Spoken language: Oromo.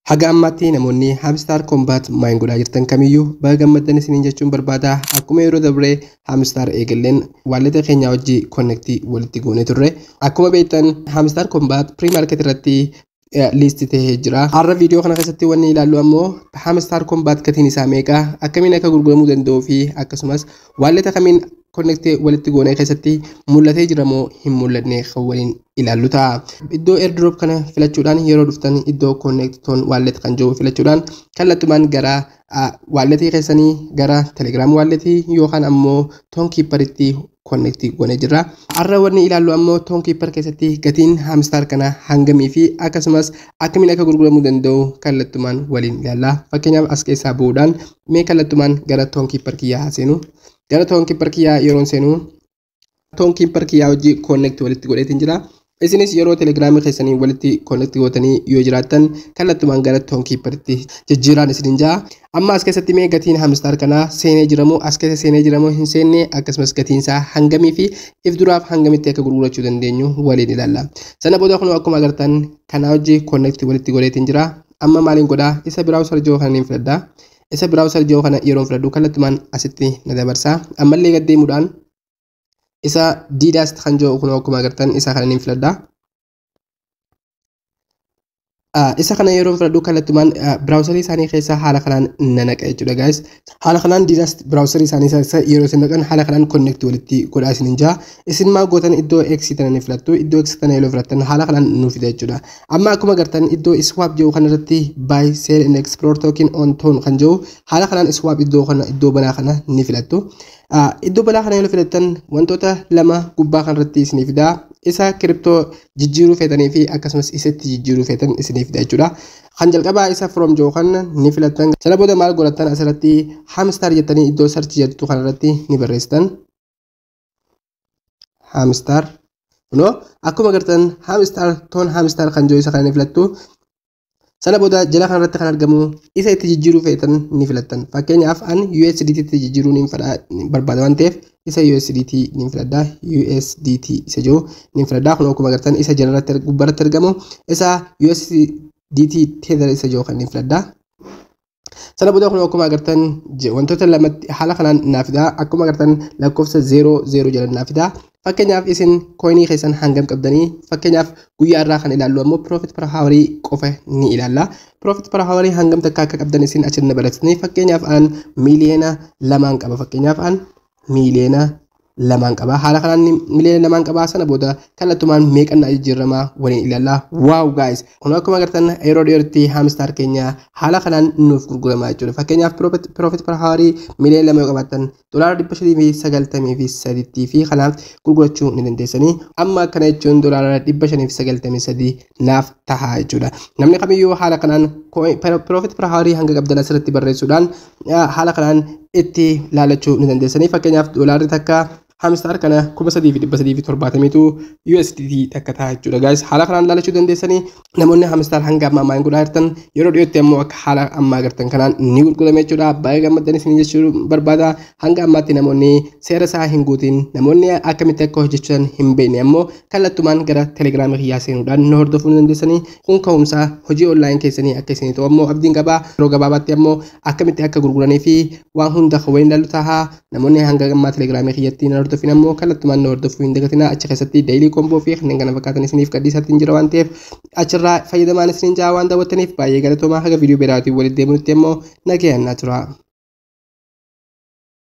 Haga ammaatti namoonni Hamstar Combat Mine godhaa jirtan kamiyyuu baga gammaddan isiniin jechuun barbaada. Akkuma yeroo dabree Hamstar eegalleen waalleta keenya wajji konnektii walitti goonee turre. Akkuma beektan Hamstar Combat pre-market irratti liisti ta'ee jira. Har'a viidiyoo kana keessatti wanni ilaallu ammoo Hamstar Combat gatiin isaa meeqa, akkamiin akka gurguramuu danda'uu fi akkasumas waalleta kamiin connect walitti goonee keessatti mul'atee jira moo hin mul'anne kan waliin ilaallu ta'a. Iddoo airdrop kana filachuudhaan yeroo dhuftan iddoo connect ton wallet kan jiru filachuudhaan kallattumaan gara walletii keessanii gara telegram walletii yookaan ammoo ton keeperitti connect goonee jirra. Har'a wanni ilaallu ammoo ton keeper keessatti gatiin hamstar kana hangamii fi akkasumas akkamiin akka gurguramuu danda'u kallattumaan waliin ilaalla. Fakkeenyaaf as keessaa bu'uudhaan mee kallattumaan gara ton keeper kiyyaa haaseenu. gara toon kiippar kiyyaa yeroon seenuu toon kiippar kiyyaa hojii koonnekti walitti godheetiin jira. Isinis yeroo telegiraamii keessanii walitti koonnekti gootanii yoo jiraattan kallattumaan gara toon kiipparitti jijjiiraan isiniin jaa. Amma as keessatti mee gatiin hamistaar kanaa seenee jiramoo as keessa seenee jiramoo hin seenne akkasumas gatiin isaa hangamii fi if duraaf hangamitti akka gurgurachuu dandeenyu waliin ilaalla. Sana booda kunoo akkuma agartan kanaa hojii koonnekti walitti godheetiin jira. Amma maaliin godhaa isa biraawusar jiru kan hin filadhaa. Isa browser jiru kana yeroo filadhu kallattumaan asitti na dabarsa. Ammallee gad deemuudhaan isa diidaast kan jiru kunoo akkuma agartan isa kana niin filadha. Isa kana yeroo filadhu kallattumaan browserii isaanii keessa haala kanaan na naqa jechuudha guys. Haala kanaan diidaast browserii isaanii keessa yeroo isin naqan haala kanaan connect walitti godhaa isin hin jaa. Isin maa gootan iddoo X tana ni filattu. Iddoo X tana yeroo filattan haala kanaan nu fida jechuudha. Amma akkuma agartan iddoo iswaap jedhu kanarratti buy sell and explore token on ton kan jedhu haala kanaan iswaap iddoo kana iddoo banaa kana ni filattu. Iddoo banaa kana yoo filattan wantoota lama gubbaa kanarratti isinii fida. Isa kiriptoo jijjiiruu feetanii fi akkasumas isatti jijjiiruu feetan isinii fida jechuudha. Kan jalqabaa isa from jedhu kana ni filattan. Sana booda maal godhattan asirratti hamstar jettanii iddoo search jettu kanarratti ni barreessitan. hamstar no akkuma agartan hamstar toon hamstar kan jiru isa kana ni filattu sana booda jala kanarratti kan argamu isa itti jijjiiruu feetan ni filattan fakkeenyaaf an USDT itti jijjiiruu ni barbaada waan ta'eef isa USDT ni filadha USDT isa jiru ni filadha kun akkuma agartan isa jalarratti gubbarratti argamu isa USDT tether isa jiru kan ni filadha Sana booda kun akkuma agartan wantoota lamatti haala kanaan naaf fidaa akkuma agartan lakkoofsa 00 jedhan naaf fidaa fakkeenyaaf isin kooyinii keessan hangam qabdanii fakkeenyaaf guyyaa irraa kan ilaallu ammoo profit per hour qofa ni ilaalla profit per hour hangam takka akka qabdan isin achi na baratanii fakkeenyaaf an miiliyoona lamaan qaba fakkeenyaaf an miiliyoona lamaan qabaa haala kanaan miiliyoona lamaan qabaa sana booda kallattumaan meeqan jijjiiramaa waliin ilaalla waaw gaayis kun akkuma agartan yeroo dhiyootti haamistaar keenya haala kanaan nuuf gurguramaa jechuudha fakkeenyaaf piroofit parhaarii miiliyoona lama yoo qabaattan dolaara dhibba shanii fi sagaltamii fi sadiitti fi kanaaf gurgurachuu ni dandeessanii amma akkana jechuun dolaara dhibba shanii fi sagaltamii sadii naaf tahaa jechuudha. Namni kamiyyuu haala kanaan piroofiit per haawarii hanga qabdan asirratti barreessuudhaan haala kanaan itti laalachuu ni dandeessanii fakkeenyaaf doolaarri takka hamstaar kana kuma sadii fi dhibba sadii fi torbaatamiitu USDT takka tahaa jechuudha. Gaayis haala kanaan laalachuu dandeessanii namoonni hamstaar hanga ammaa ammaa hin godhaa jirtan yeroo dhiyootti ammoo akka haala ammaa agartan kanaan ni gurgurame jechuudha. Baay'ee gammaddan isin jechuu barbaada hanga ammaatti namoonni seera isaa hin guutin namoonni akkamitti akka hojjechuudhaan hin beekne ammoo kallattumaan gara telegiraamii kiyyaa seenuudhaan na hordofuu ni dandeessanii kun ka'umsaa hojii online keessanii akka isinii ta'u ammoo abdiin qabaa yeroo gabaabaatti ammoo akkamitti akka gurguranii fi waan hunda kan waliin ilaallu tahaa namoonni hanga ammaa telegiraamii kiyyatti na hordofin ammoo kallattumaan na hordofuu hin dagatinaa achi keessatti daily komboo fi kanneen kana fakkaatan isiniif gadhiisaatiin jira waan ta'eef achirraa fayyadamaan isiniin jaa waan daawwattaniif baay'ee galatoomaa haga viidiyoo biraatiin walitti deemuutti ammoo nagayaan naa turaa.